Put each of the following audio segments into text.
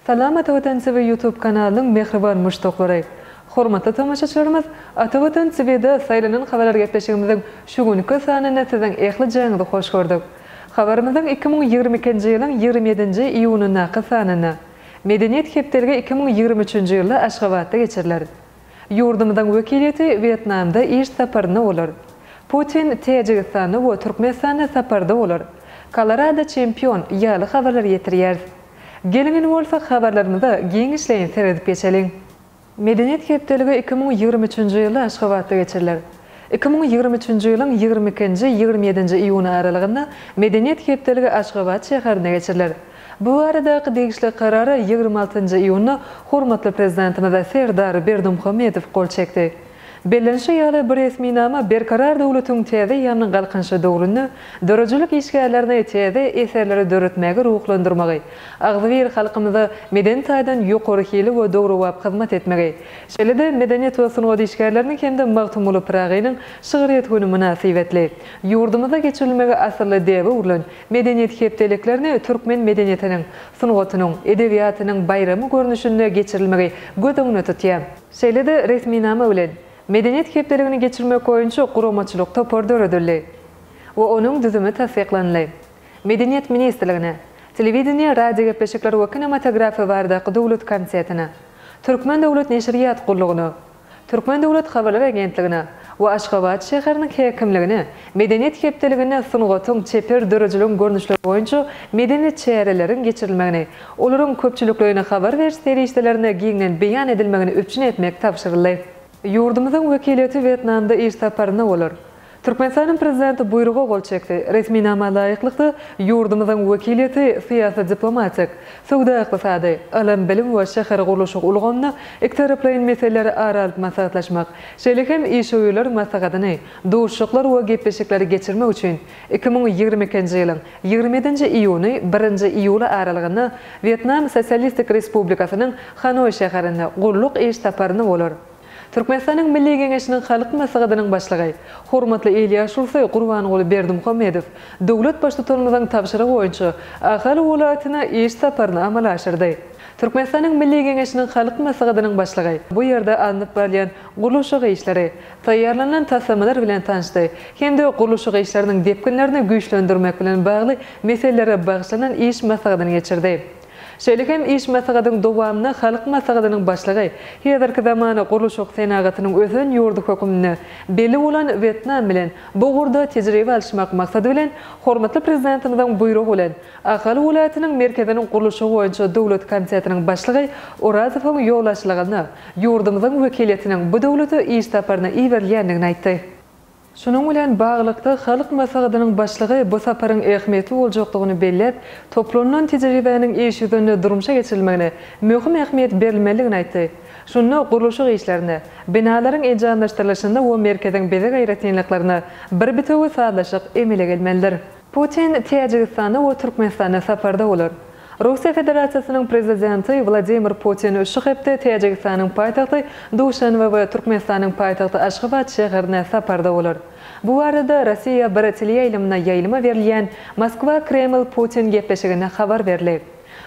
Salam Atavatan TV YouTube kanalynyň mähriban muşdaklary! Hormatly tomaşaçylarymyz, Atavatan TV-de saýlanan habarargepleşigimiziň şu günki sanynda siziň ählijaňyzy hoş gördük. Habarymyzyň iki müň ýigrimi ikinji ýylyň ýigrimi ýedinji iýunyndaky sanynda Medeniýet hepdeligi iki müň ýigrimi üçünji ýylda Aşgabatda geçiriler. Ýurdumyzyň wekiliýeti Wýetnamda iş saparynda bolar. Putin Täjigistanda we Türkmenistanda saparda bolar. Kolorado çempion! ýaly habarlary ýetirýäris. Geliň indi bolsa habarlarymyza giňişleýin seredip geçeliň. Medeniýet hepdeligi iki müň ýigrimi üçünji ýylda Aşgabatda geçiriler. Iki müň ýigrimi üçünji ýylyň ýigrimi ikinji, ýigrimi ýedinji iýun aralygynda Medeniýet hepdeligi Aşgabat şäherinde geçiriler. Bu baradaky degişli karara ýigrimi altynjy iýunda hormatly Prezidentimiz Serdar Berdimuhamedow gol çekdi. Bellenişi ýaly, bu resminama Berkarar döwletiň täze ýaňy galkynyşy döwründe döredijilik işgärlerini täze eserleri döretmäge ruhlandyrmagy, agzybir halkymyza medeni taýdan ýokary hili we döwrebap hyzmat etmegi, şeýle-de medeniýet we sungat işgärleriniň hem-de Magtymguly Pyragynyň şygryýet güni mynasybetli ýurdumyzda geçirilmegi asylly däbe öwrülen Medeniýet hepdeliklerini türkmen medeniýetiniň, sungatynyň, edebiýatynyň baýramy görnüşinde geçirilmegi göz öňünde tutýar. Şeýle-de resminama bilen, Medeniýet hepdeligini geçirmek boýunça guramaçylyk topar döredildi we onuň düzümi tassyklanyldy. Medeniýet ministrligine, Telewideniýe, radiogepleşikler we kinematografiýa baradaky döwlet komitetine, Türkmen döwlet neşirýat gullugyna, Türkmen döwlet habarlar agentligine we Aşgabat şäheriniň häkimligine Medeniýet hepdeliginde sungatyň, çeper döredijiligiň görnüşleri boýunça medeni çäreleriň geçirilmegini Olaryň köpçülikleýin habar beriş serişdelerinde giňden beýan edilmegini üpjün etmek tabşyryldy. Ýurdumyzyň wekiliýeti Wýetnamda iş saparynda bolar. Türkmenistanyň Prezidenti Buýruga gol çekdi. Resminama laýyklykda, ýurdumyzyň wekiliýeti syýasy-diplomatik, söwda-ykdysady, ylym-bilim we şähergurluşyk ulgamyny, ikitaraplaýyn meseleleri ara alyp maslahatlaşmak, şeýle hem işewürler maslahatyny, duşuşyklar we gepleşikleri geçirmek üçin Iki müň ýigrimi ikinji ýylyň ýigrimi ýedinji iýuny, birinji iýuly aralygynda Wýetnam Sosialistik Respublikasynyň Hanoý şäherinde gulluk iş saparyny bolar. Türkmenistanyň Milli Geňeşiniň Halk Maslahatynyň Başlygy, hormatly il ýaşulysy Gurbanguly Berdimuhamedow döwlet Baştutanymyzyň tabşyrygy boýunça Ahal welaýatyna iş saparyny amala aşyrdy. Türkmenistanyň Milli Geňeşiniň Halk Maslahatynyň Başlygy bu ýerde alnyp barylýan gurluşyk işleri, taýýarlanan taslamalar bilen tanşdy hem-de gurluşyk işleriniň depginlerini güýçlendirmek bilen bagly meselelere bagyşlanan iş maslahatyny geçirdi. Şeýle hem iş maslahatyň dowamynda Halk Maslahatynyň Başlygy häzirki zaman gurluşyk senagatynyň ösen ýurdy hökmünde belli bolan Wýetnam bilen bu ugurda tejribe alyşmak maksady bilen, hormatly Prezidentimiziň Buýrugy bilen, Ahal welaýatynyň merkeziniň gurluşygy boýunça döwlet komitetiniň başlygy Orazowyň ýolbaşçylygynda ýurdumyzyň wekiliýetiniň bu döwlete iş saparyna iberilýändigini aýtdy. Şunuň bilen baglylykda, Halk Maslahatynyň Başlygy bu saparyň ähmiýetli boljakdygyny belläp, toplanylan tejribäniň iş ýüzünde durmuşa geçirilmegine möhüm ähmiýet berilmelidigini aýtdy. Şunda gurluşyk işlerine, binalaryň enjamlaşdyrylyşyna we merkeziň bezeg aýratynlyklaryna bir bitewi sazlaşyk emele gelmelidir. Putin Täjigistanda we Türkmenistanda saparda bolar. Russiýa Federasiýasynyň Prezidenti Wladimir Putin şu hepde Täjigistanyň paýtagty Duşanbe we Türkmenistanyň paýtagty Aşgabat şäherine saparda bolar. Bu barada Rossiýa bir teleýaýlymyna ýaýlyma berilýän Moskwa-Kreml-Putin gepleşiginde habar berlib.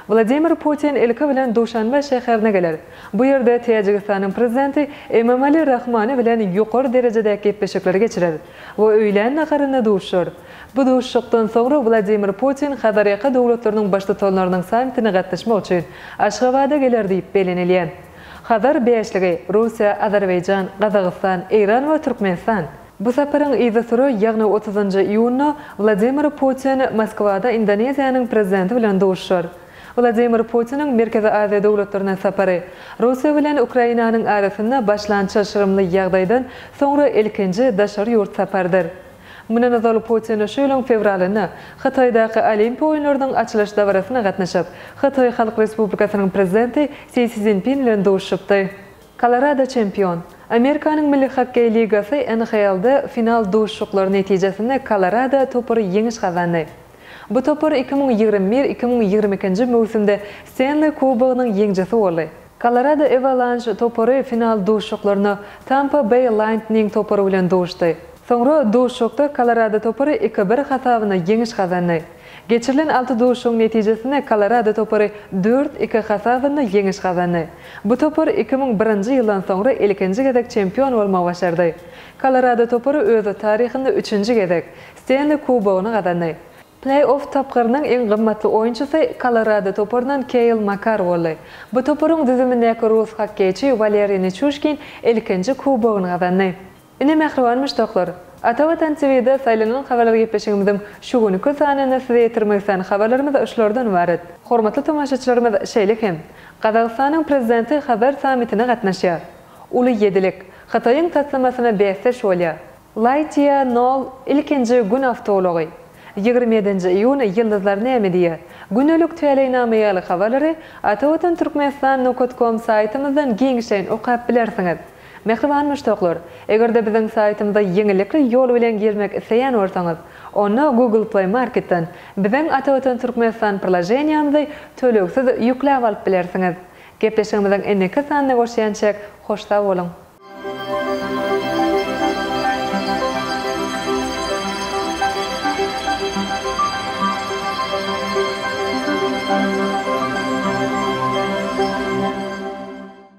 Wladimir Putin ilki bilen Duşanbe şäherine geler. Bu ýerde Täjigistanyň prezidenti Emomali Rahmoni bilen ýokary derejedäki gepleşikleri geçirer we öýlän naharynda duşar. Bu duşuşykdan soňra Wladimir Putin Hazarýaka döwletleriniň baştutanlarynyň sammitine gatnaşmak üçin Aşgabada geler diýip bellenilýär. Hazar bäşligi, Russiýa, Azerbaýjan, Gazagystan, Eýran we Türkmenistan, Bu saparyň yzysüre, ýagny otuzynjy iýunda Wladimir Putin Moskwada Indoneziýanyň Prezidenti bilen duşuşar. Wladimir Putiniň Merkezi Aziýa döwletlerine sapary, Russiýa bilen Ukrainanyň arasynda başlan çylşyrymly ýagdaýdan soňra ilkinji daşary ýurt saparydyr. Mundan ozal Putin şu ýylyň fewralynda Hytaýdaky Olimpiýa oýunlarynyň açylyş dabarasyna gatnaşyp, Hytaý Halk Respublikasynyň Prezidenti Si Szinpin bilen duşuşypdy. Kolorado çempion. Amerikanyň Milli hokkeý ligasy, NHL-de final duşuşyklary netijesinde Kolorado topary ýeňiş gazandy. Bu topar iki müň ýigrimi bir, iki müň ýigrimi ikinji möwsümde Stenli kubogynyň ýeňjisi boldy. Kolorado Ewalanş topary final duşuşyklarynda Tampa Beý Laýntning topary bilen duşdy. Soňra duşuşykda Kolorado topary iki-bir hasabyna ýeňiş gazandy. Geçirilen alty duşuşygyň netijesinde Kolorado topary dört, iki hasabynda ýeňiş gazandy. Bu topar iki müň birinji ýyldan soňra ilkinji gezek çempion bolmagy başardy. Kolorado topary öz taryhynda üçünji gezek Stenli kubogyny gazandy. Pleý-off tapgyrynyň iň gymmatly oýunçysy Kolorado toparyndan Keýl Makar boldy. Bu toparyň düzümindäki rus hokkeýçi Waleriý Niçuşkin ilkinji kubogyny gazandy. Ine mähriban muşdaklar! Ata Watan TV-de saýlanan habarlar gepleşigimiziň şu günki sanyny size ýetirmek islän habarlarymyz şulardan ybarat. Hormatly tomaşaçylarymyz şeýle hem, Gazagystanyň Prezidenti Hazar sammitine gatnaşýar. Uly ýedilik, Hytaýyň taslamasyna bäsdeş bolýar. Lightyear nol ilkinji Gün awtoulagy. Ýigrimi ýedinji iýun Ýyldyzlar näme diýýär? Gündelik täleýnama ýaly habarlary Ata Watan Türkmenistan nokat kom saýtymyzdan giňişleýin okap bilersiňiz. Mähriban muşdaklar! Eger-de biziň saýtymyza ýeňillikli ýol bilen girmek isleýän bolsaňyz, onda Google Play Marketden biziň Atawatan Türkmenistan priloženiýamyzy tölegsiz ýükläp alyp bilersiňiz. Gepleşigimiziň indiki sanyna görşýänçäk, hoş sag boluň!